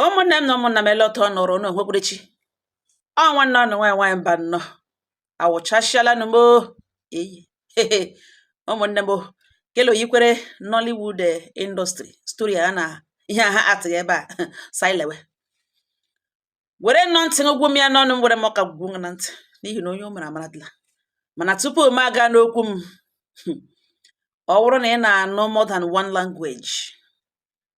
ụmụnne m na ụmụnna m ele otu ọ nọrọ unu onwekwerechi ọ nwanne unu nwaanyị nwaanyị Mbanọ awụchasịala nụ m eyi ụmụnne m kele o yikwere Nollywood eh, industry story a na ihe a ha atịghị ebe a si lewe were nnọọ ntị ụgwụ m ya n'ọnụ m were m ọka gwugwu na ntị n'ihi na onye o mere amaradịla mana tupu m aga n'okwu m ọ bụrụ na ị na-anụ more than one language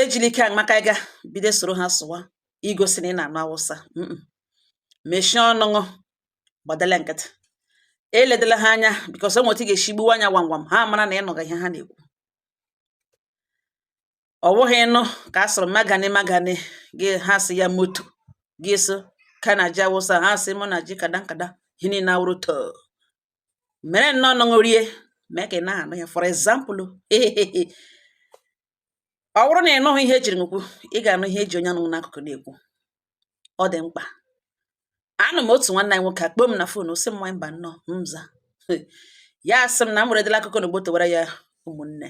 ejili ike maka ịga bido soro ha sụwa igosi na ị na-anụ Awụsa mechie ọnụ ṅụ gbadala nkịtị eledela ha anya bikọs o nwe etu ị ga-esi gbuwa anya gwam gwam ha mara na ị nụga ihe ha na-ekwu ọ bụghị ịnụ ka a sịrị magani magani gị ha sị ya moto gị sị kana ji Awụsa ha sị muna ji kadan kadan ihe niile awụrụ too mere nnọọ ọnụ ṅụ rie mee ka ị naha anụ ya for example ọ bụrụ na ị nụghị ihe ejiri ṅụ kwuo ị ga-anụ ihe eji onye nọ ṅụ n'akụkụ na-ekwu ọ dị mkpa a nọ m otu nwanne anyị nwoke akpọọ m na fon sị m nwanyị Mbanọ m za ya asị m na m weredịla akụkọ na gbotowara ya ụmụnne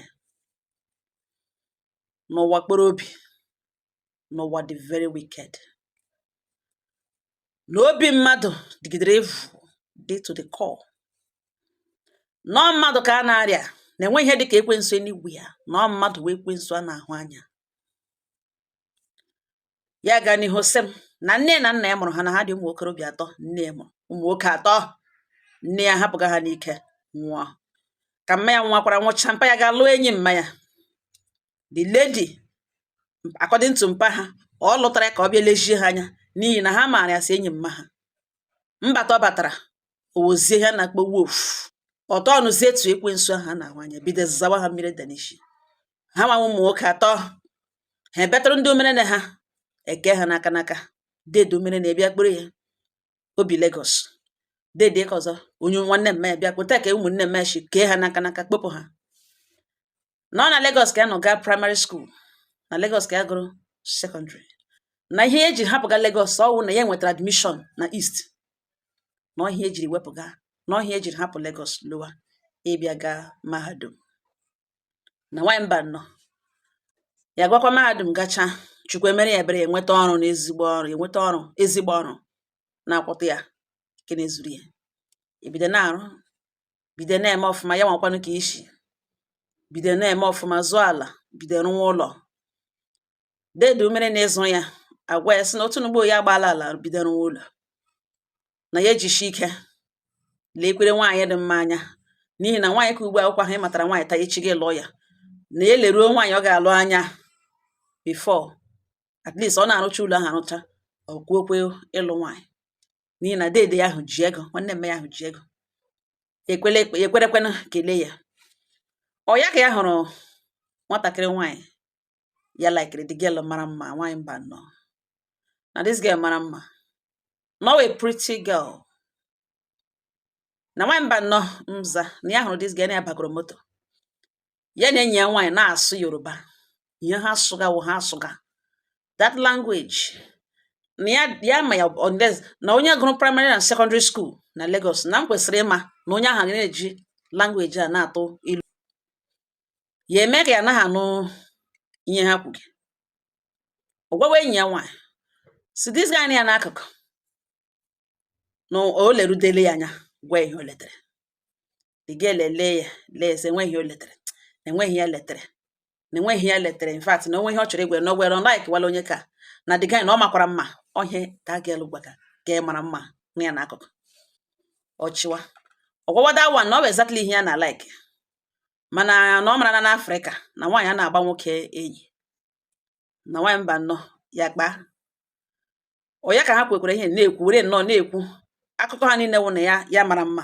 na ụwa kpọrọ obi na ụwa dị very wicked na obi mmadụ dịgidere evil dị to the core na ọ mmadụ ka a na-arịa na enweghị ihe dịka ekwensu enigwu ya na ọ mmadụ wụ ekwensu a na-ahụ anya ya gaa n'ihu sị m na nne na nna ya mụrụ ha na ha dị ụmụ okorobịa atọ nne ya mụrụ ụmụ nwoke atọ nne ya hapụga ha n'ike nwụọ ka mma ya nwakwara nwụcha mpa ya gaa lụọ enyi mma ya the lady according to mpa ha ọ lụtara ya ka ọ bịa lezie ha anya n'ihi na ha maara ya as enyi mma ha mbata ọ batara ọ wụzie ihe a na-akpọ wolf ọ tọnụzie into ekwensu ahụ a na-ahụ anya bido zawa ha mmiri danishi ha nwa ụmụ nwoke atọ ha ebetụrụ ndị omerenne ha eke ha n'aka n'aka dede omerenne ya abịa kpọrọ ya o bi Lagos dede ke ọzọ onye nwanne mma ya bịa kpọta ka ụmụnne mma shi kee ha n'aka n'aka kpọpụ ha na ọ na Lagos ka ya nọ gaa praịmarị skuul na Lagos ka ya gụrụ sekọndịrị na ihe eji hapụga Lagos ọ wụ na ya nwetara admishọn na East na ọ ihe ya jiri wepụga na ọ ihe ya jiri hapụ Lagos lọwa ịbịa gaa mahadum na nwanyị Mbanọ ya gakwa mahadum gacha Chukwu emere ya ebere ya enweta ọrụ na ezigbo ọrụ enweta ọrụ ezigbo ọrụ na-akwụta ya nke na-ezuru ya ebido na-arụ bido na-eme ọfụma ya nwakwanụ ka isi bido na-eme ọfụma zụọ ala bido rụwa ụlọ deede umere na-ịzụ ya agwa ya sị na otu n'ugbo ya agbaala ala bido rụwa ụlọ na ya ejishi ike leekwere nwaanyị dị mma anya n'ihi na nwaanyị ka ugbu akwụkwọ ahụ ị matara nwaanyị taa echi gị lụọ ya na ya eleruo nwaanyị ọ ga-alụ anya before at least ọ na-arụcha ụlọ ahụ arụcha ọ kwuokwe ịlụ nwaanyị n'ihi na deede ya ahụ ji ego nwanne mme ya ahụ ji ego ekwerekwenụ kelee ya ọ ya ka ya hụrụ nwatakịrị nwaanyị ya likere the girl mara mma nwaanyị Mbanọ na this girl mara mma na ọ wụ pretty girl na nwaanyị Mbanọ mza na ya hụrụ this girl na ya bagoro moto ya na enyi ya nwaanyị na-asụ Yoruba ihe ha sụga wụ ha asụga that language na ya ma ya na onye gụrụ primary na secondary school na Lagos na e kwesịrị ịma na onye ahụ na-eji language a na-atụ ilu ya eme ka ya anaghị anụ ihe ha kwuge ọ gwawa enyi ya nwaanyị sị this guy nọ ya n'akụkụ na o lerudele ya anya gwa ihe o letere the girl lelee ya lee sị enweghị o letere enweghị ya letere na enweghị ya letere in fact na o nwe ihe ọ chọrọ ịgwa ya na o were like wala onye ka na the guy na ọ makwara mma ọ ya ka girl gwaga guy mara mma nọ ya n'akụkụ ọ chịwa ọ gwawa that one na ọ bụ exactly ihe ya na like mana na ọ mara na n'Afrịka na nwaanyị anaghị agba nwoke enyi na nwaanyị Mbanọ ya kpaa ọ ya ka ha kwekwara ihe na-ekwu were nọ na-ekwu akụkọ ha niile wụ na ya mara mma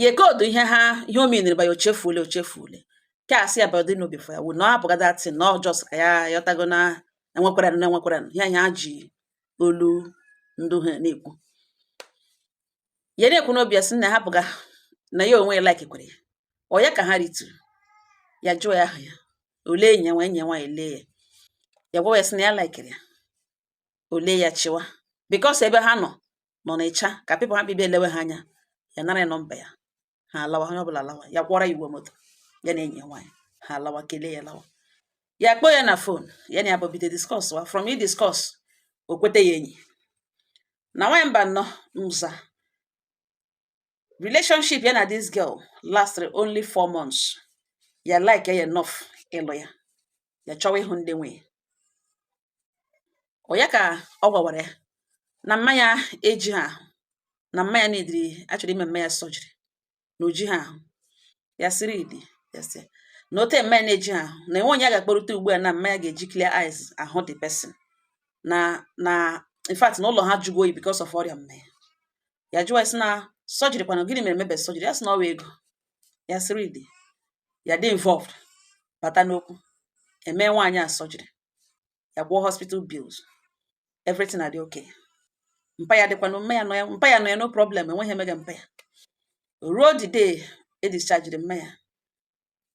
ya ecode ihe ha ihe o meaniri ba ya ochefuole ochefuole ka a sị ya body no be firewood na ọ hapụga that thing na ọ just ka ya ghọtago na enwekwara na enwekwara ihe ha ji olu ndị ha na-ekwu ya na-ekwu n'obi ya sị na ha bụga na ya onwe ya likekwere ya ọ ya ka ha rituru ya jụọ ya aha ya o lee enyi ya nwa enyi ya nwaanyị lee ya ya gwawa ya sị na ya likere ya o lee ya chịwa because ebe ha nọ nọ n'ịcha ka people hapụ ịbịa elewe ha anya ya nara ya nọmba ya ha alawa onye ọbụla alawa ya kwụọrọ ya ụgwọ moto ya na enyi ya nwaanyị ha alawa kelee ya lawa ya kpọọ ya na phone ya na ya bụ bido discusswa from ị discuss o kwete ya enyi na nwaanyị Mbanọ mza relationship ya na this girl lasted only four months ya like ya enough ịlụ ya ya chọwa ịhụ ndị nwe ya ọ ya ka ọ gwawara ya na mma ya ejiha ahụ na mma ya needịrị a chọrọ ime mma ya surgery na o jiha ahụ ya sịrị idi ya sị na otu mma ya na-ejiha ahụ na enwe onye a ga-akpọrịta ugbu a na mma ya ga-eji clear eyes ahụ the person na na in fact na ụlọ ha jụgo oyi because of ọrịa mma ya ya jụwa sị na surgery kwana gịnị mere mebe surgery ya sị na ọwa ego ya sị really ya dị involved bata n'okwu eme nwaanyị a surgery ya kwụọ hospital bills everything adị okay mpa ya dịkwa mma ya nọ ya mpa ya nọ ya no problem enweghị ihe mega mpa ya ruo the day e discharged mma ya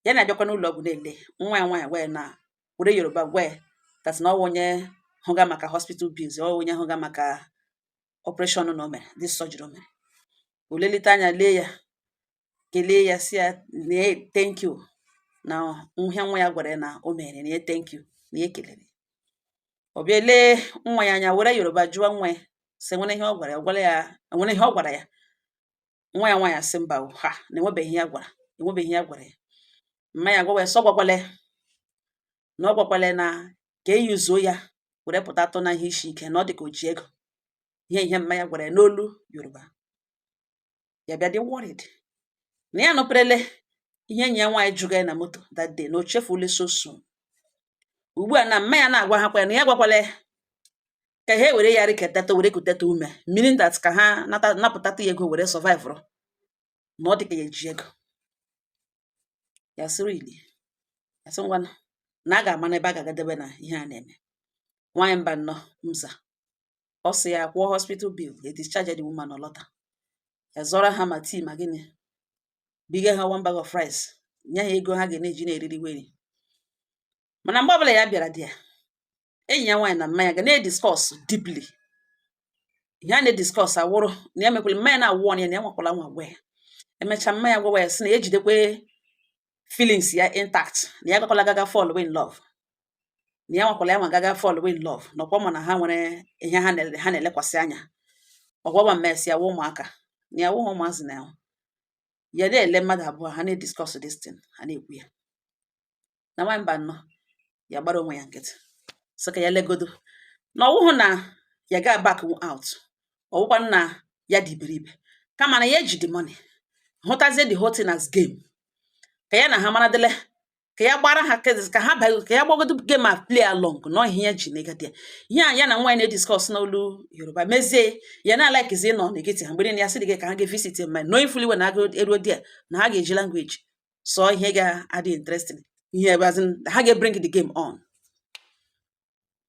ya na-abịakwa n'ụlọ ọgwụ na-ele nwa ya nwaanyị wee na were yoruba gwa that na ọwa onye hụga maka hospital bills ọwa onye hụga maka operation na o mere the surgery o mere o lelite anya lee ya kelee ya sị ya na thank you na ihe nwa ya gwara ya na o mere na ya thank you na ya kelere ọ bịa lee nwa ya anya were yoruba jụọ nwa ya sị e nwere ihe ọ gwara ya e nwere ihe ọ gwara ya nwa ya nwaanyị asị mba ha na enwebeghị ihe ya gwara ya mma ya gwawa ya sị ọ gwakwala ya na ọ gwakwala na ka e yuzuo ya were pụtatụ na ihe isi ike na ọ dị ka o ji ego ihe ihe mma ya gwara ya n'olu yoruba ya bịa dị worried na ya nụperele ihe enyi ya nwaanyị jụga ya na moto that day na o chefule so soon ugbu a na mma ya na-agwa ha kwa na ya gwakwala ya ka ha were ya riketata were kuteta ume meaning that ka ha napụtata ya ego were survive na ọ dị ka ya eji ego ya sị really ya sị ngwanụ na a ga-ama n'ebe a ga-agadebe na ihe a na-eme nwaanyị mba nnọọ mza ọ sị ya kwụọ hospital bill e discharge the woman ọ lọta ya zụọrọ ha ma tea ma gịnị biga ha one bag of rice nye ha ego ha ga na-eji na-eriri weri mana mgbe ọbụla ya bịara there enyi ya nwaanyị na mma ya ga na-ediscuss deeply ihe a na-ediscuss awụrụ na ya mekwere mma ya na-awarn ya na ya nwakwala anwa gwa ya emechaa mma ya gwawa ya sị na ya ejidekwe feelings ya intact na ya gakwala gaga fall in love na ya nwakwala ya anwa gaga fall in love na ọkwa ọ ma na ha nwere ihe ha na-elekwasị anya ọgwagwa mmesi ya wụ ụmụaka na ya wụghị ụmụazị na ya ya na-ele mmadụ abụọ ha na-ediscuss this thing ha na-ekwu ya na nwaanyị mba nnọọ ya gbara onwe ya nkịtị sị ka ya legodo na ọwụhụ na ya ga back out ọwụkwa na ya dị iberibe kama na ya eji the money hụtazie the whole thing as game ka ya na ha mara dịle ka ya gbara ha kedis ka ha baa ka ya gbagodo game a play along na ihe ya ji na-ege ntị ihe a ya na nwaanyị na-ediscuss n'olu yoruba mezie ya na like zi nọ na-ege ntị ha mgbe niile ya sị dị gị ka ha ga-evisit ma knowing fully well na a gaa eruo there na ha ga-eji language so ihe ga-adị interesting ihe ebe as in ha ga-bring the game on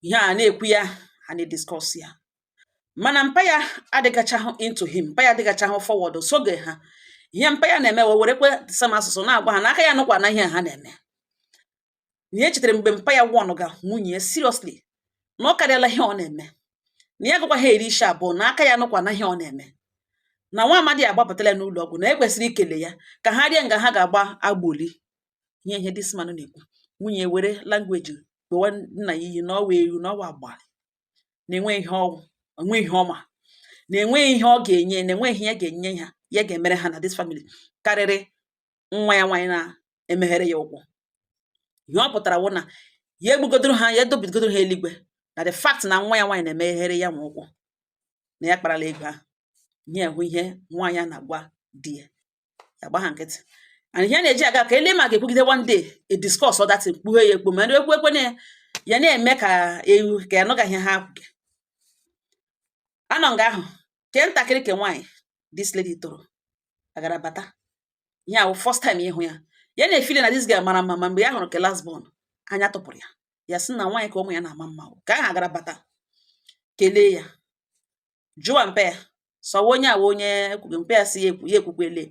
ihe a na-ekwu ya a na-ediscuss ya mana mpa ya adịgachahụ into him mpa ya adịgachahụ forward soge ha ihe mpa ya na-eme wee werekwe same asụsụ na-agwa ha na ka ya anụkwana ihe ha na-eme na ya chetara mgbe mpa ya warnụga nwunye ya seriously na ọ karịala ihe ọ na-eme na ya gụkwa ha eri isi abụọ na aka ya nụkwa na ihe ọ na-eme na nwa amadi agbapụtala n'ụlọ ọgwụ na e kwesịrị ikele ya ka ha rịa nga ha ga-agba agboli ihe ihe this man na-ekwu nwunye were language gbowa nna ya iyi na ọ wụ ewu na ọwa agbalị na-enwe ihe ọ wụ enwe ihe ọ ma na-enweghị ihe ọ ga-enye na-enweghị ihe ya ga-enye ha ya ga-emere ha na this family karịrị nwa ya nwaanyị na-emeghere ya ụkwụ ihe ọ pụtara wụ na ya egbugodoro ha ya edobigodoro ha eluigwe na the fact na nwa ya nwaanyị na-emeghere ya nwa ụkwụ na ya kparala ego ahụ ihe ahụ ihe nwaanyị a na-agwa di ya ya gba ha nkịtị and ihe na-eji aga ka e lee ma a ga-ekwugide one day e discussọ that thing kpughe ya ekpo ma ekwu ekwe ya na-eme ka ewu ka ya nụgaghị ha kwuge a nọ nga ahụ ke ntakịrị ke nwaanyị this lady tọrọ agara bata ihe a wụ first time ịhụ ya ya na-efeeli na this girl mara mma ma mgbe ya hụrụ ke last born anya tụpụrụ ya ya sị na nwaanyị ka ụmụ ya na-ama mma ke ahụ agara bata kelee ya jụwa mpa ya sị ọ wụ onye ọ wụ onye ekwughị mpa ya sị ya ekwukwele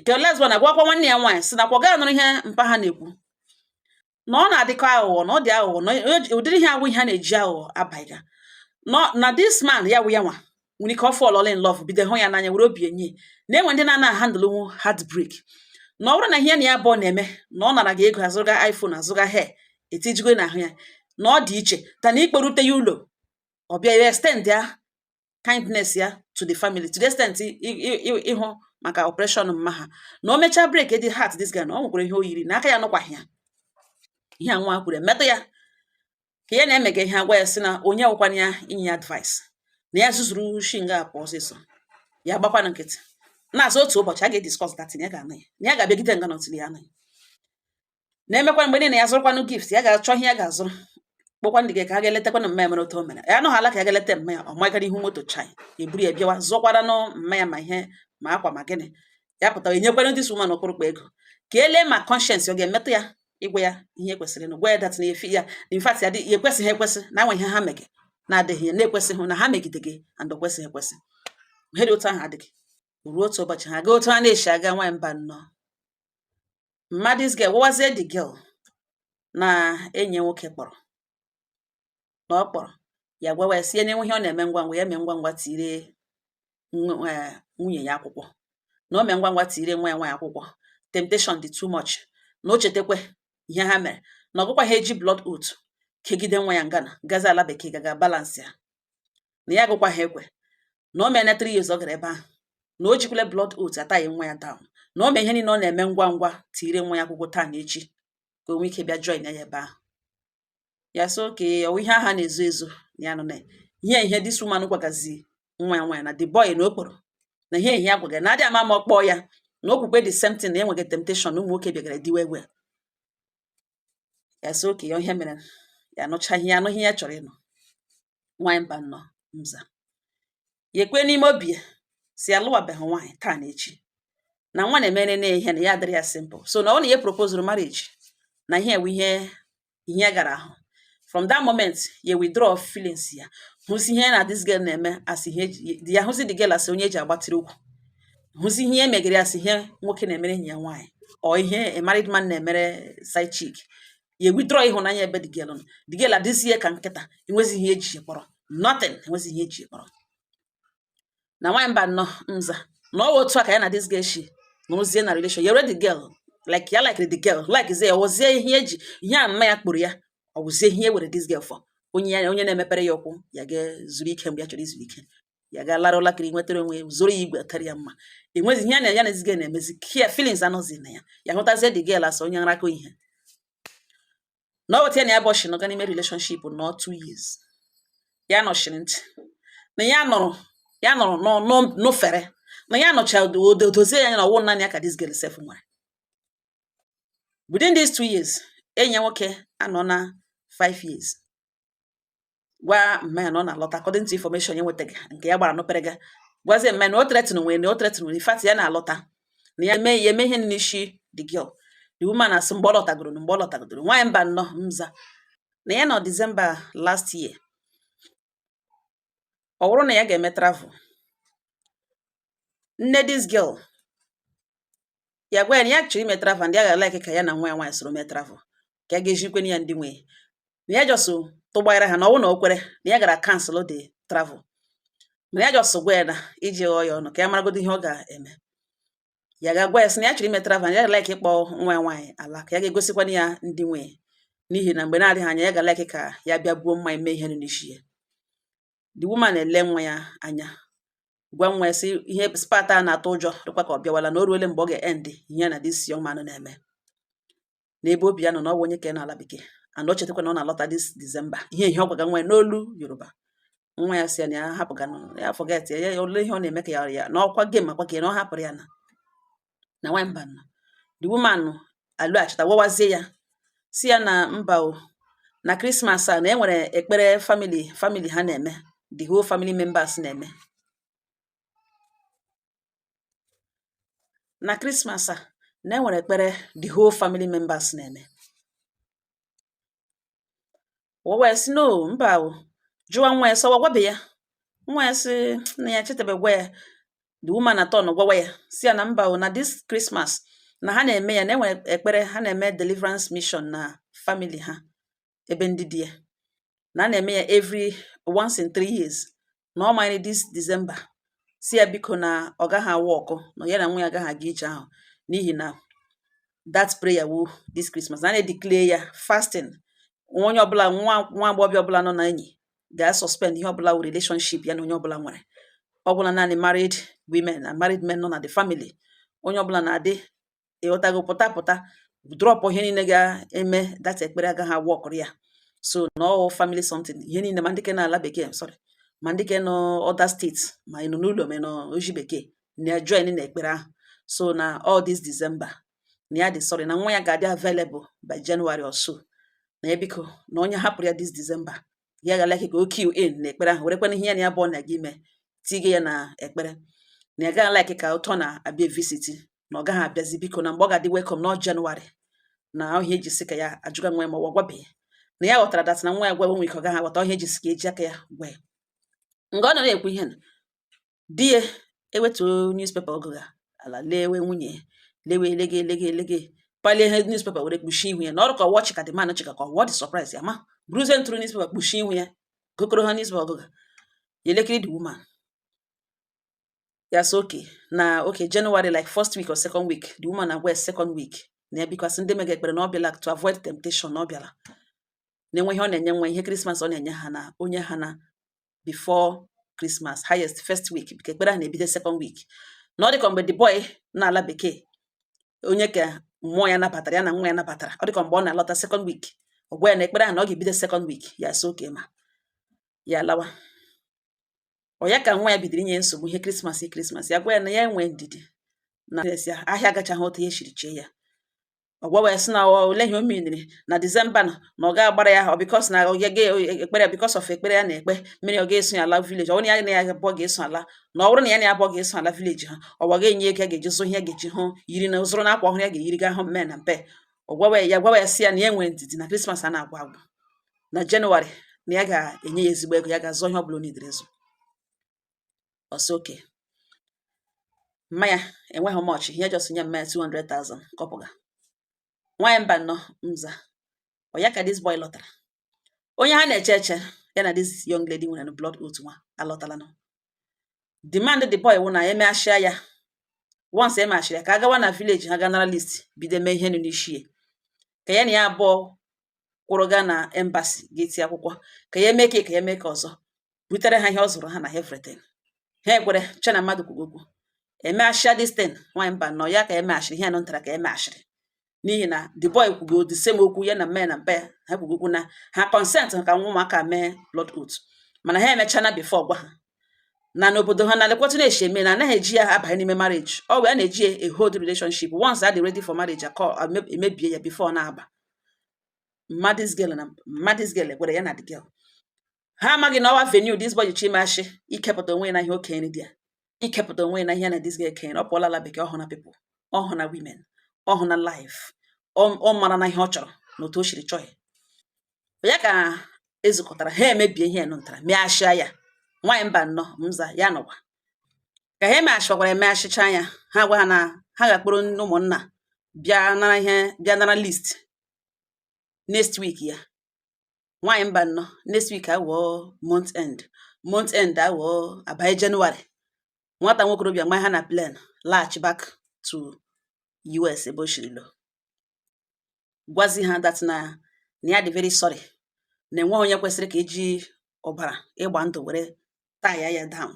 ke last born agwakwa nwanne ya nwaanyị sị nakwa gaa nụrụ ihe mpa ha na-ekwu na ọ na-adịkọ aghụghọ na ọ dị aghụghọ na ụdịrị ihe a wụ ihe a na-eji aghụghọ abaiga na this man ya wụ ya nwa nwere ike ọ fall in love bido hụ ya n'anya were obi enye na enwe ndị na-ana handlenwu heartbreak na ọ bụrụ na ihe na ya abụọ na-eme na ọ nara gị ego azụga iPhone azụga hair etijigo na ahụ ya na ọ dị iche than ịkpọrute ya ụlọ ọ bịa ya extend ya kindness ya to the family to the extent ịhụ maka operation mma ha na o mechaa breakie heart this guy na ọ nwekwara ihe o yiri na aka ya nụkwaghị ya ihe a nwa kwuru emetụ ya ka ya na-emega ihe agwa ya sị na onye wụkwana ya inye ya advice na ya zuzuru shi nga a pụọ ọsịsọ ya gbakwana nkịtị na-asị otu ụbọchị a ga-ediscuss that thing ya ga-anụ ya na ya ga-abịagide nga until ya anụ ya na-emekwa mgbe niile ya zụrụkwanụ gift ya ga-achọ ihe ya ga-azụrụ kpọkwa the girl ka ha ga-eletakwanụ mma ya mere otu o mere ya anụghị ala ka ya ga-eleta mma ya ọ magara ihu moto chai eburu ya bịawa zụkwara nụ mma ya ma ihe ma akwa ma gịnị ya pụtara enyekwara the woman ọkpụrụkpụ ego ka e lee ma conscience ọ ga-emetụ ya ịgwa ya ihe kwesịrị na gwa ya that na efi ya in fact ya dị ya ekwesịghị ekwesị na enwe ihe ha mege na-adịghị ya na-ekwesịghị na ha megide gị and ọ kwesịghị ekwesị ihe dị otu ahụ adịghị ruo otu ụbọchị ha gaa otu ha na-esi aga nwaanyị mba nnọọ mma this girl gwawazie the girl na enyi nwoke kpọrọ na ọ kpọrọ ya gwawa ya sị ya na enwe ihe ọ na-eme ngwa ngwa ya mee ngwa ngwa tire nwunye ya akwụkwọ na o mee ngwa ngwa tire nwa ya nwaanyị akwụkwọ temptation dị too much na o chetakwa ihe ha mere na ọ gụkwa ha eji blood oath kegide nwa ya nga ọ na-agazi ala bekee gaga balance ya na ya gụkwa ha ekwe na o meela three years ọ gara ebe ahụ na o jikwule blood oath a tie nwa ya down na o mee ihe niile ọ na-eme ngwa ngwa tiire nwa ya akwụkwọ taa na echi ka o nwee ike bịa join ya ebe ahụ ya sị oke ọwụ ihe a ha na-ezo ezo na ya nọ na ihe ihe this woman gwagazi nwa ya nwaanyị na the boy na okporo na ihe ihe ya gwaga na adị ama ma ọ kpọọ ya na o kwukwe the same thing na enweghị temptation ụmụ nwoke bịagara diwe egwe ya sị oke ya ihe mere ya nụcha ihe ya ihe ya chọrọ ịnụ nwaanyị Mbano m za ya ekwe n'ime obi ya sị ya alụwabeghị nwaanyị taa na echi na nwa na-emere na ihe na ya adịrị ya simple so na ọ na ihe propozuru marriage na ihe ewe ihe ihe gara ahụ from that moment ya withdraw feelings ya hụzi ihe ya na this girl na-eme as ihe ya hụzi the girl as onye eji agbatịrị ụkwụ hụzi ihe e megara as ihe nwoke na-emere enyi ya nwaanyị or ihe a married man na-emere side chick ya withdraw ịhụnanya ebe the girl nọ the girl adịzie ka nkịta enwezi ihe eji kpọrọ nothing enwezi ihe eji kpọrọ na nwaanyị Mbano m za na ọ wụ otu a ka ya na this girl shi nọrọzie na relation yere the girl like ya like the girl like ze ya wụzie ihe eji ihe a mma ya kpụrụ ya ọ wụzie ihe e were this girl for onye ya onye na-emepere ya ụkwụ ya ga-ezuru ike mgbe ya chọrọ izu ike ya ga lara ụla kiri nwetara onwe ya zoro ya igwe karị ya mma enwezi ihe ya na this girl na-emezi kia feelings anọzi na ya ya hụtazie the girl as onye nrakọ ihe na ọ wụ otu a ya na ya bụ shi nọga n'ime relationship nọ two years ya nọchiri ntị na ya nụrụ ya nụrụ n'ufere na ya nụcha o dozie ya na ọwụ naanị ya ka this girl sef nwere within these two years enyi ya nwoke anọ na five years gwa mma ya na ọ na-alọta according to information ya nwetaga nke ya gbara n'ufere ga gwazie mma ya na o threaten nwa ya na o threaten nwa ya in fact ya na-alọta na ya eme ihe n'isi the girl the woman asị mgbe ọ lọtagoro na mgbe ọ lọtagoro nwaanyị Mbano m za na ya nọ December last year ọ bụrụ na ya ga-eme travel nne this girl ya gwa ya na ya chọrọ ime travel ndị a ga-alike ka ya na nwa ya nwaanyị soro mee travel ka ya ga-ezikwe ya ndị nwe na ya just tụgbaara ha na ọ wụ na o kwere na ya gara cancel the travel mana ya just gwa ya na iji ghọọ ya ọnụ ka ya maragodo ihe ọ ga-eme ya ga-agwa ya sị na ya chọrọ ime travel ya ga-alike ịkpọ nwa ya nwaanyị ala ka ya ga-egosikwana ya ndị nwe n'ihi na mgbe na-adịghị anya ya ga-alike ka ya bịa buo mmanya mee ihe n'isi ya the woman ele nwa ya anya gwa nwa ya sị this part a na-atụ ụjọ dịkwa ka ọ bịawala na o ruole mgbe ọ ga-end ihe na this young man na-eme n'ebe obi ya nọ na ọ bụ onye ka n'ala bekee and o chetakwa na ọ na-alọta this December ihe ihe ọ gwaga nwa ya n'olu Yoruba nwa ya si ya na ya hapụga ya forget ya ya ole ihe ọ na-eme ka ya ya na ọkwa game akwa ka ya na ọ hapụrụ ya na na nwaanyị mba nọ the woman alọghachita gwawazie ya sị ya na mba o na Christmas a na e nwere ekpere family family ha na-eme the whole family members na-eme na Christmas a na e nwere ekpere the whole family members na-eme O wee sị no mba o jụwa nwa ya sị ọ gwabe ya nwa ya sị na ya chetabe gwa ya the woman aturnọ gwawa ya sị ya na mba o na this Christmas na ha na-eme ya na e nwere ekpere ha na-eme deliverance mission na family ha ebe ndị di ya na a na-eme ya every once in three years na ọ manyere this December sị ya biko na ọ gaghị awork na ya na nwa ya agaghị aga ije ahụ n'ihi na that prayer wu this Christmas na na-edeclare ya fasting onye ọbụla nwa agbọghọbịa ọbụla nọ na enyi ga-suspend ihe ọbụla wu relationship ya na onye ọbụla nwere ọ gwụla naanị married women na married men nọ na the family onye ọbụla na-adị ịghọtago pụta pụta drop ihe niile ga-eme that ekpere agaghị aworkụrụ ya so na ọ wụ family something ihe niile ma ndị ke n'ala bekee sorry ma ndị ke nọ other state ma ị nọ n'ụlọ ma ị nọ oji bekee na join na ekpere ahụ so na all this December na ya dị sorry na nwa ya ga-adị available by January or so na ya biko na onye hapụrụ ya this December ya ga-alike ka o key in na ekpere ahụ werekwana ihe ya na ya bụ ọ na-aga ime tige ya na ekpere na ya gaghị like ka ụtọ na-abịa visit na ọ gaghị abịazi biko na mgbe ọ ga-adị welcome na January na ọ ihe ya ji sị ka ya ajụga nwa ya ma ọ gwabeghị na ya ghọtara that na nwa ya gwa nwe ike ọ gaghị aghọta ọ ihe ya ji sị ka eji aka ya gwa ya nga ọ nọ na-ekwu ihe na di ya ewetuo newspaper ọ gụga ala lewe nwunye ya lewe elege elege elege palie ihe newspaper were kpuchie ihu ya na ọrụ ka ọ wụ ọchị ka the man chịga ka ọ wụ the surprise ya ma bụrụzie ntụrụ newspaper kpuchie ihu ya gokoro ha newspaper ọ gụga ya elekiri the woman ya sị okay na okay January like first week or second week the woman na west second week na ya because ndị mega ekpere na ọ bịala to avoid temptation na ọ bịala na e nwee ihe ọ na-enye nwa ihe Christmas ọ na-enye ha na o nye ha na before Christmas highest first week because ekpere ha na-ebido second week na ọ dịka mgbe the boy nọ ala bekee onye ka mmụọ ya nabatara ya na nwa ya nabatara ọ dịka mgbe ọ na-alọta second week ọ gwa ya na ekpere ha na ọ ga-ebido second week ya sị okay ma ya lawa ọ ya ka nwa ya bidoro inye nsogbu ihe Christmas Christmas ya gwa ya na ya nwee ndidi na ya ahịa agachaghị otu e siri chee ya ọ gwawa ya sị na olee ihe o meniri na December na na ọ ga-agbara ya ọ because na ya ga ekpere ya because of ekpere ya na-ekpe mere ọ ga-eso ya ala village ọ bụrụ na ya na ya abụọ ga-eso ala na ọ bụrụ na ya na ya abụọ ga-eso ala village ha ọ ga-enye ego ya ga-eji zụ ihe ya ga-eji hụ yiri na zụrụ na akwa ọhụrụ ya ga-eyiri ga hụ mme na mpe ọ gwawa ya gwawa ya sị ya na ya nwee ndidi na Christmas a na-agwụ agwụ na January na ya ga-enye ya ezigbo ego ya ga-azụ ihe ọ bụla o nidere ịzụ ọsọ oke mmanya enweghị much ihe just nye mmanya 200,000 kọpụga nwaanyị Mbanọ m za ọ ya ka this boy lọtara onye ha na-eche eche ya na this young lady nwere blood oath nwa alọtala nọ demand the boy wụ na emeghachia ya once emeghachiri ya ka a gawa na village ha ga nara list bido mee ihe nụ n'ishie ka ya na ya abụọ kwụrụ gaa na embassy ga-eti akwụkwọ ka ya eme ka ka ya mee ka ọzọ butere ha ihe ọ zụrụ ha na everything ha ekwere che na mmadụ kwuru okwu emeghachia this thing nwaanyị Mbanọ ya ka emeghachiri ihe nọ ntara ka emeghachiri n'ihi na the boy kwugo the same okwu ya na mma na mpa ya ha kwugo okwu na ha consent ka nwa ụmụaka mee blood oath mana ha emechana before gwa ha na n'obodo ha na lekwa otu na-eshi eme na anaghị eji ya abanye n'ime marriage ọ wụ ihe na-eji a hold relationship once a dị ready for marriage akọ emebie ya before na-aba mma this girl na mma this girl gwara ya na the girl ha amaghị na ọ wụ avenue this boy ji mashi ikepụta onwe na ihe okenye dị ya ikepụta onwe na ihe na this girl kenye ọ pụọla ala bekee ọ hụna people ọ hụna women ọ hụna life ọ marana ihe ọ chọrọ na otu o shiri chọọ ya ya ka ezukọtara ha emebie ihe nụ ntara meghachia ya nwaanyị Mbanọ m za ya nọwa ka ha emeghachikwakwara emeghachicha ya ha gwa ha na ha ga-akpụrụ ndị ụmụnna bịa nara ihe bịa nara list next week ya nwaanyị Mbanọ next week agwụọ month end month end agwụọ abanye January nwata nwokorobịa mgbe ha na plan laghachi back to US ebe o shiri lọ gwazi ha that na na ya dị very sorry na enweghị onye kwesịrị ka eji ọbara ịgba ndụ were tie ya down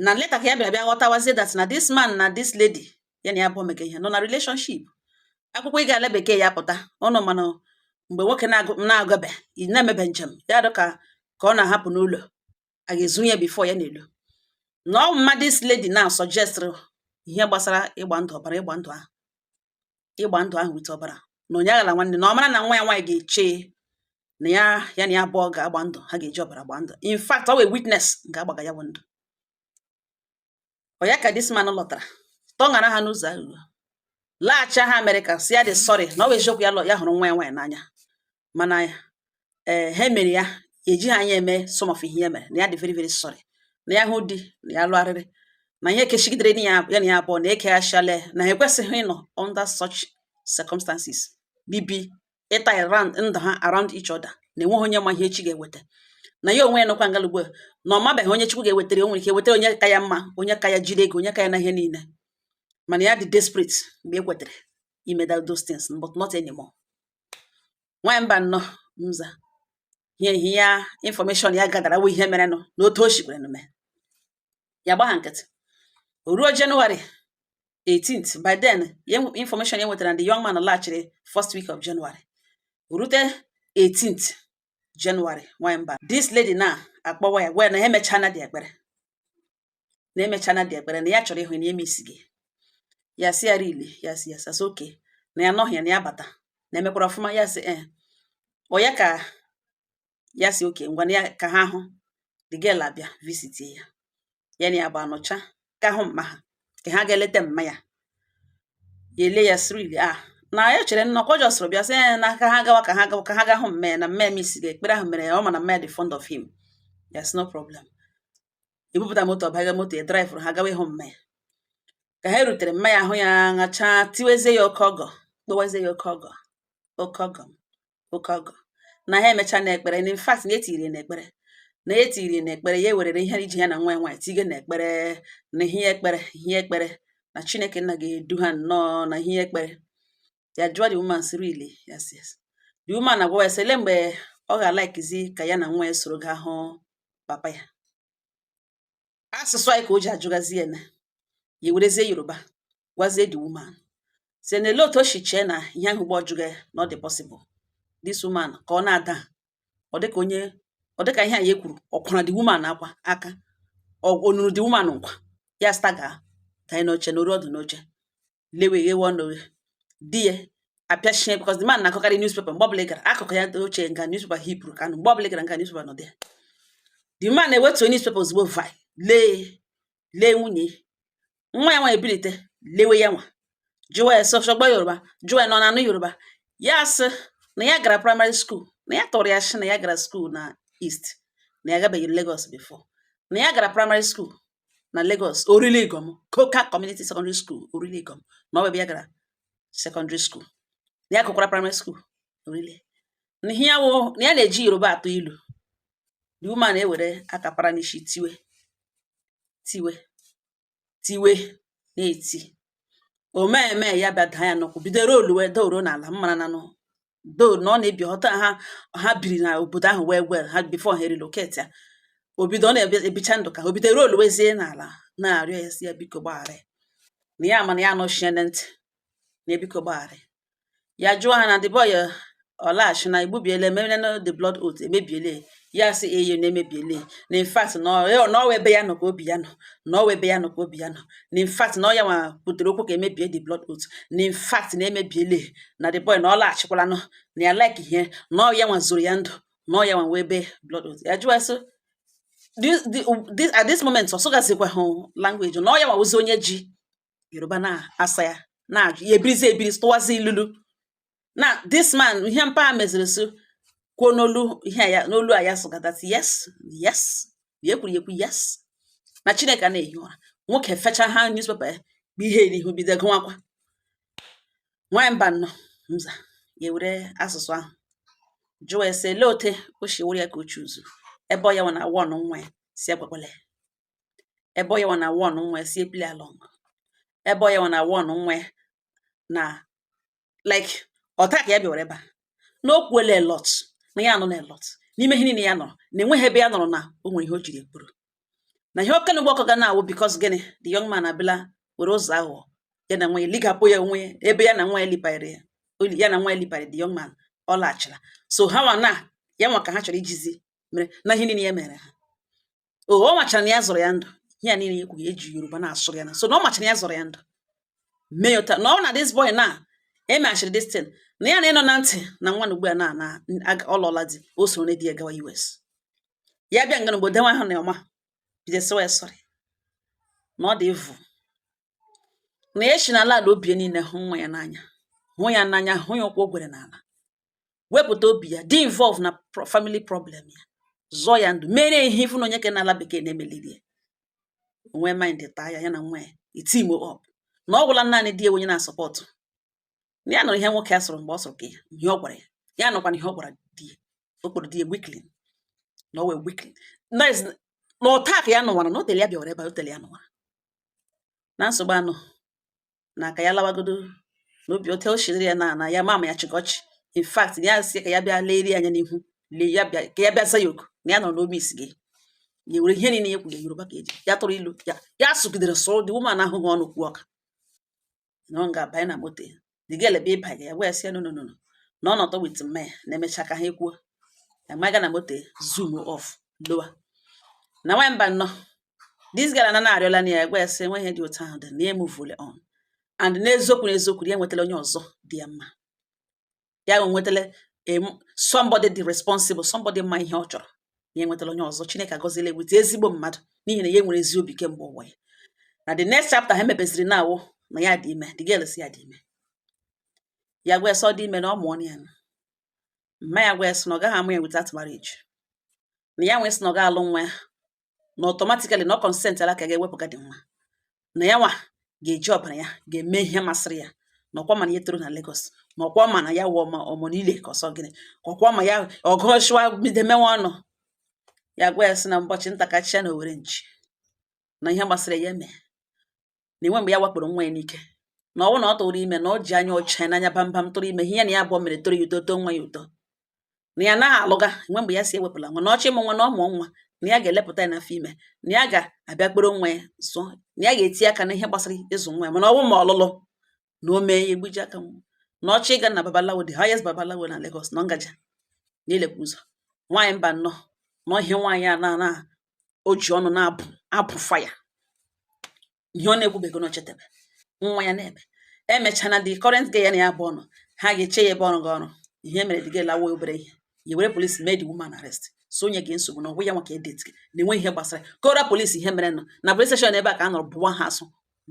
na later ka ya bịara bịa ghọtawazie that na this man na this lady ya na ya bụ omeke ihe nọ na relationship akwụkwọ ịga ala bekee ya pụta ọnụ mana mgbe nwoke na-agabe na-emebe njem ya dụ ka ka ọ na-ahapụ n'ụlọ a ga-ezu ya before ya n'elu na ọ mma this lady na suggestịrị ihe gbasara ịgba ndụ ọbara ịgba ndụ ahụ ịgba ndụ ahụ with ọbara na onye aghala nwanne na ọ mara na nwa ya nwaanyị ga-eche na ya ya na ya abụọ ga-agba ndụ ha ga-eji ọbara gba ndụ in fact ọ wee witness nke agbaga ya bụ ndụ ọ ya ka this man lọtara tọṅara ha n'ụzọ aghụghọ laghachi ha Amerịka si ya dị sorry na ọ bụ eziokwu ya lọ ya hụrụ nwa ya nwaanyị n'anya mana ee eh, ha mere ya ejighị anya eme some of ihe ya mere na ya dị very very sorry na ya hụ di na ya lụgharịrị na ihe kechigidere ya na ya abụọ na ekeghachila na ha ekwesịghị ịnọ under such circumstances bibi ịta around ndụ ha around each other na enweghị onye ma ihe echi ga-eweta na ya onwe ya nọkwa ngalụ ugbu a na ọ mabeghị onye Chukwu ga-ewetara ya o nwere ike wetara onye ka ya mma onye ka ya jide ego onye ka ya na ihe niile mana ya dị desperate mgbe e kwetere ime those things but not anymore nwanyị mba nnọọ mza ihe ihe ya information ya gadara wụ ihe merenụ na otu o shikwere mee ya gbagha nkịtị o ruo January 18th by then information ya nwetara na the young man laghachiri first week of January rute 18th January nwanyị mba this lady now akpọwa ya gwa ya na ha emechaana the ekpere na emechaana the ekpere na ya chọrọ ịhụ na ya missiga ya sị ya really ya sị ya yes sị okay na ya nọghị ya na ya bata na e mekwara ọfụma ya sị ee eh. ọ ya ka ya sị okay ngwa ya ka ha hụ the girl abịa visit ya ya na ya bụ anọchaa ka hụ mma ha ka ha gaa leta mma ya ya elee ya sị really a ah, na ya chere nnọkọ ọ jọsịrị bịa sị eh, na ka ha gawa ka ha gawa ka ha gaa hụ mma ya na mma ya missiga ekpere ahụ mere ya ọ ma na mma ya dị fond of him yes no problem e bupụta moto ọ baa moto ya drivụrụ ha gawa ịhụ mma ya ka ha rutere mma ya ahụ ya ṅachaa tiwezie ya oke ọgọ kpọwazie ya oke ọgọ oke ọgọ oke ọgọ na ha emechaana ekpere na in fact na etiri na ekpere na etiri na ekpere ya ewerere ihe iji ya na nwa ya nwaanyị tige na ekpere na ihe ekpere ihe ekpere na chineke nna ga-edu ha nnọọ na ihe ekpere ya jụọ the woman sị really yes yes the woman agwa ya sị ele mgbe ọ ga-alikezi ka ya na nwa ya soro gaa hụ papa ya asụsụ anyị ka o ji ajụgazi ya na ya werezie yoruba gwazie the woman sị na ele otu o si chee na ihe ahụ gba ọ jụga ya na ọ dị possible this woman ka ọ na-ada ọ dịka onye ọ dịka ihe a ya kwuru ọ kwara the woman akwa aka o nuru the woman nkwa ya stagger gaa n'ihe n'oche nọrụ ọdụ n'oche lewe ghewe ọnụ ghe di ya apịachie because the man na-agụkarị newspaper mgbe ọbụla ị gara akụkụ ya oche nga newspaper heapụrụ ka anụ mgbe ọbụla ị gara nga newspaper nọ dị ya the man now ewetuo newspaper ozugbo vi lee lee nwunye nwa ya nwa ebilite lewe ya nwa jụwa ya sị ṣo gbọ yoruba jụwa ya na ọ na-anụ yoruba ya asị na ya gara primary school na ya tụrụ ya ashị na ya gara school na East na ya agabeghị Lagos before na ya gara primary school na Lagos Orile Iganmu Coker Community Secondary School Orile Iganmu na ọ bụ ebe ya gara secondary school na ya gụkwara primary school Orile na ihe ya wụ na ya na-eji yoruba atụ ilu the woman ewere aka para n'isi tiwe tiwe tiwe na-eti o mee emee ya bịa daa ya n'ụkwụ bido rolluwe daa oro n'ala mmara na nụ do na ọ na-ebi Ota ha ha biri na obodo ahụ very well ha before ha relocate ya o bido ọ na-ebicha ndụ ka o bido rolluwezie n'ala na-arịọ ya sị ya biko gbaghara ya na ya mana ya anọchie na ntị na ya biko gbaghara ya ya jụọ ha na the boy eh, ọ laghachi na igbubiele emere na the blood oath emebiele ya sị eyo na emebiele na infact na ọ wụ ebe ya nọ ka obi ya nọ na ọ wụ ebe ya nọ ka obi ya nọ na infact na ọ ya nwa butere okwu ka emebie the blood oath na infact na emebiele na the boy na ọ laghachikwala nọ na ya like ihe na ọ ya nwa zọrọ ya ndụ na ọ ya nwa wee ebe blood oath ya jụọ sị this, this, at this moment ọ sụgazikwahụ language na ọ ya nwa wụzi onye ji yoruba na-asa ya na-ajụ ya ebirizi ebiri tụwazi ilulu na this man ihe mpa ha meziri so kwuo n'olu ihe ya n'olu a ya sụgadati yes yes ya ekwuru ekwu yes na chineke anaghị ehi ụra nwoke fecha ha newspaper ya bụ ihe n'ihu bido gụwakwa nwaanyị mba nnọọ mza ya ewere asụsụ ahụ jụọ sị lee ote o si were ya ka o chuzu ebe ọ ya nwa na awọ ọnụ nwa ya si agwakwala ya ebe ọ ya nwa na won nwe si play along ebe ọ ya nwa na won nwe na like ọ taa ka ya bịawara ebe a na o kwuola a lot na ya anụọla a lot n'ime ihe niile ya nụrụ na enweghị ebe ya nụrụ na o nwere ihe o jiri kwuru na ihe ọkene mgbe ọkọ ga na-awụ because gịnị the young man abịala were ụzọ aghụghọ ya na nwa ya ligapụ ya onwe ya ebe ya na nwa ya libanyere ya oli- ya na nwa ya libanyere the young man ọ laghachila so ha nwa na ya nwa ka ha chọrọ ijizi mere na ihe niile ya mere ha o ọ machara na ya zọrọ ya ndụ ihe a niile ya ekwughị e ji yoruba na-asụrụ ya na so na ọ machara na ya zọrọ ya ndụ mee ya ụta na ọ na this boy na emechiri this thing na ya na-anụ na ntị na nwa na ugbu a na na aga- ọ lụọla di o soro na di ya gawa US ya bịa nga n'obodo nwa ahụ na ọma bido sịwa ya sorry na ọ dị evu na ya si n'ala ala obi ya niile hụ nwa ya n'anya hụ ya n'anya hụ ya ụkwụ o gwere n'ala wepụta obi ya dị involve na family problem ya zọọ ya ndụ mere ihe ifu na onye ke n'ala bekee na-emeliri ya onwe mind taa ya ya na nwa ya eteam up na ọ gwụla naanị di onye na-asupport ya nụrụ ihe nwoke a sụrụ mgbe ọ sụrụ ka ya ihe ọ gwara ya ya nụkwana ihe ọ gwara di ya o kpọrọ di ya weakling na ọ wụ weakling na ọ taa ka ya nụwara na o tere ya bịawara ebe o tere ya nụwara na nsogbu ahụ na ka ya lawagodo na obi otu o shi dịrị ya na na ya ma ama ya chịkọchị in fact ya si ka ya bịa lerie anya n'ihu lee ya bịa ka ya bịa za ya oku na ya nọ n'obi isi gị ya were ihe niile ya kwuru yoruba ka e ji ya tụrụ ilu ya ya sụgidere sụrụ the woman ahụghị ọnụ kwuo ụka na ọ ga-abanye na moto ya dị ga elebe ịba ya wee sị ya no no no no na ọ nọtọ with mme na emecha ka ha ekwuo ya maga na moto ya zoom off lawa na nwaanyị mba nnọọ this girl na na-arịọla na ya gwa ya sị enweghị ihe dị otu ahụ dị na ya emuvule on and n'eziokwu n'eziokwu ya enwetala onye ọzọ dị ya mma ya enwetala em, somebody dị responsible somebody ma ihe ọ chọrọ ya enwetala onye ọzọ chineke agọziela eweta ezigbo mmadụ n'ihi na ya nwere ezi obi kemgbe ụwa ya na the next chapter ha mepeziri na ọ wụ na ya dị ime the girl sị ya dị ime ya gwa ya sị ọ dị ime na ọ mụọ nwa ya nụ. mma ya gwa ya sị na ọ gaghị amụ ya without marriage na ya nwee sị na ọ ga-alụ nwa ya na automatically na ọ consentiala ka ga-ewepụga dị nwa na ya nwa ga-eji ọbara ya ga-eme ihe masịrị ya na ọkwa ma na ya toro na Lagos na ọkwa ma na ya wụ omo onile ka ọ sị gịnị ka ọkwa ma ya ọgụọchịwa bido mewe ọnụ ya gwa ya sị na ụbọchị nta ka a chụa na owere nchi na ihe masịrị ya ya mee na enwe mgbe ya wakporo nwa ya n'ike na ọ wụ na ọ tụrụ ime na ọ ji anya ọcha n'anya bambam tụrụ ime ihe na ya abụọ mere tọrọ ya ụtọ tọọ nwa ya ụtọ na ya naghị alụga enwe mgbe ya sị ewepụla nwa na ọ chọ ịmụ nwa na ọ mụọ nwa na ya ga-elepụta ya n'afọ ime na ya ga-abịa kpọrọ nwa ya zụọ na ya ga-eti aka na ihe gbasara ịzụ nwa ya mana ọ wụ ma ọlụlụ na o mee ya egbuji aka nwa na ọ chọ ịga na babalawo the highest babalawo na Lagos na ngaja na-elekwa ụzọ nwaanyị mba nnọọ na ọhịa nwaanyị a na o ji ọnụ na-abụ fire ihe ọ na-ekwubeghị na chetebe nwa ya na-ebe emechana the current guy na ya bụ ọnụ ha ga-eche ya ebe ọ rụga ọrụ ihe mere the girl lawa obere ihe ya were polisi mee the woman arrest so onye gị nsogbu na ọ wụ ya nwa ka edet gị na enwe ihe gbasara kọọra polisi ihe merenụ na police station ebe a ka a nọrọ bụwa ha asụ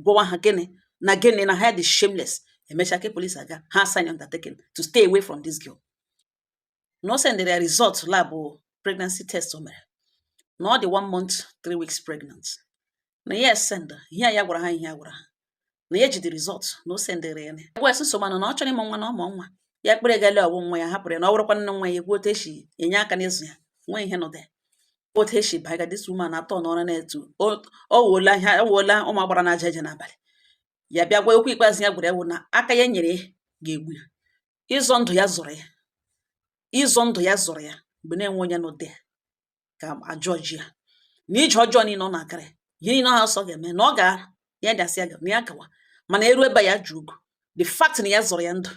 gwawa ha gịnị na gịnị na ha dị shameless emecha ke polisi agwa ha sign undertaking to stay away from this girl na o sendịrị ya result lab pregnancy test o mere na ọ dị one month three weeks pregnant na ya esend ihe ya gwara ha ihe ya gwara ha na ya ji the result na o sendịrị ya wee sị so mana na ọ chọrọ ịmụ nwa na ọ mụọ nwa ya kpere gale ọ wụ nwa ya hapụrụ ya na ọ bụrụkwa nne nwa ya ekwuo otu e si enye aka n'ịzụ ya nwee ihe nọdụ ya otu esi baga this woman atọ n'ọrụ na-etu ọ wuola ihe ọ wuola ụmụ agbara na-eje eje n'abalị ya bịa gwa okwu ikpeazụ ya gwara ya wụ na aka ya nyere ga-egbu ya ịzọ ndụ ya zọrọ ya ịzọ ndụ ya zọrọ ya mgbe na-enwe onye n'ụdị ya ka ajọ ji ya na ije ọjọọ niile ọ na-agara ya ihe niile ahụ ọ sị ọ ga-eme na ọ ga ya dasị ya ga na ya gawa mana eru ebe ya ji ụgwọ the fact na ya zọrọ ya ndụ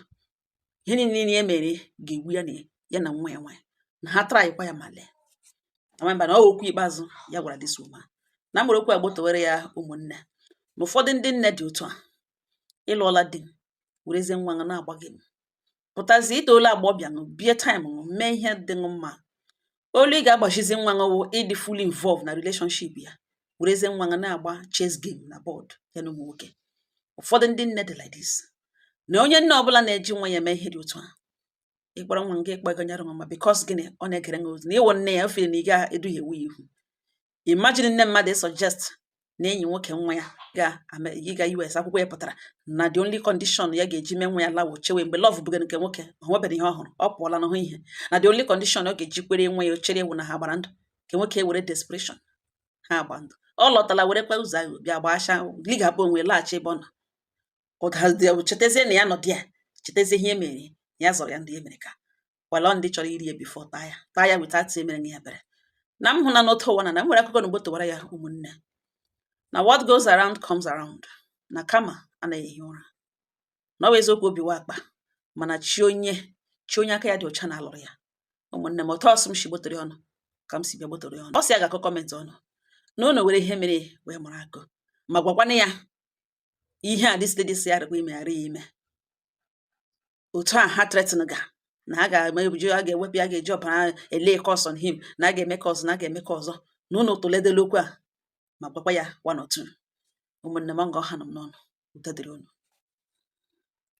ihe niile ya mere ga-egbu ya na ya na nwa ya nwaanyị na ha trykwa ya ma lee amamba na ọ okwu ikpeazụ ya gwara this woman na mgbere okwu agbotowere ya ụmụnne na ụfọdụ ndị nne dị otu a ị lụọla di werezie nwa ṅụ na-agba game pụtazie i toola agbọghọbịa ṅụ bie time ṅụ mee ihe dị ṅụ mma olu ị ga-agbachizi nwa ṅụ wụ ịdị fully involved na relationship ya werezie nwa ṅụ na-agba chess game na board ya na ụmụ nwoke ụfọdụ ndị nne dị like this na onye nne ọbụla na-eji nwa ya eme ihe dị otu a ị kpọrọ nwa gị ịkpọ ego nyere nwa ma because gịnị ọ na-egere nwa ozi na ị wụ nne ya o chere na ị ga-eduhiewu ya ihu imagine nne mmadụ suggest na enyi nwoke nwa ya ga-aga US akwụkwọ ya pụtara na the only condition ya ga-eji mee nwa ya lawo chewe mgbe love bụga nke nwoke o nwebere ihe ọ hụrụ ọ pụọla na-ahụ ihe na the only condition ọ ga-eji kwere nwa ya o chere ya wụ na ha gbara ndụ nke nwoke were desperation ha agba ndụ ọ lọtala werekwa ụzọ ahụ bịa gbasha ligabụ onwe laghachi ebe ọ nọ ụdazi chetazie na ya nọ dị ya chetazie ihe e mere ya zọrọ ya ndị e mere ka wala ndị chọrọ iri ya before taa ya taa ya weta atị emere ya ebere na m hụ na n'otu ụwa na na m nwere akụkọ n'ugbo towara ya ụmụnne na what goes around comes around na karma anaghị ehi ụra na ọ bụ eziokwu obi wụ akpa mana chi onye chi onye aka ya dị ọcha na-alụrụ ya ụmụnne m otu ọ sị m si gbotere unu ka m si bịa gbotere unu ọ sị ya ga-agụ comment unu na unu were ihe mere wee mụrụ akọ ma gwakwanụ ya ihe a this lady sị ya dịkwa ime ghara ya ime otu a ha threaten ga na a ga-eme ebuju a ga-ewepụ ya ga-eji ọbara e-lay curse on him na a ga-eme ka ọzọ na a ga-eme ka ọzọ na unu tụledela okwu a ma gwakwa ya one or two ụmụnne m nga ọ hanụ m n'ọnụ udo dịrị unu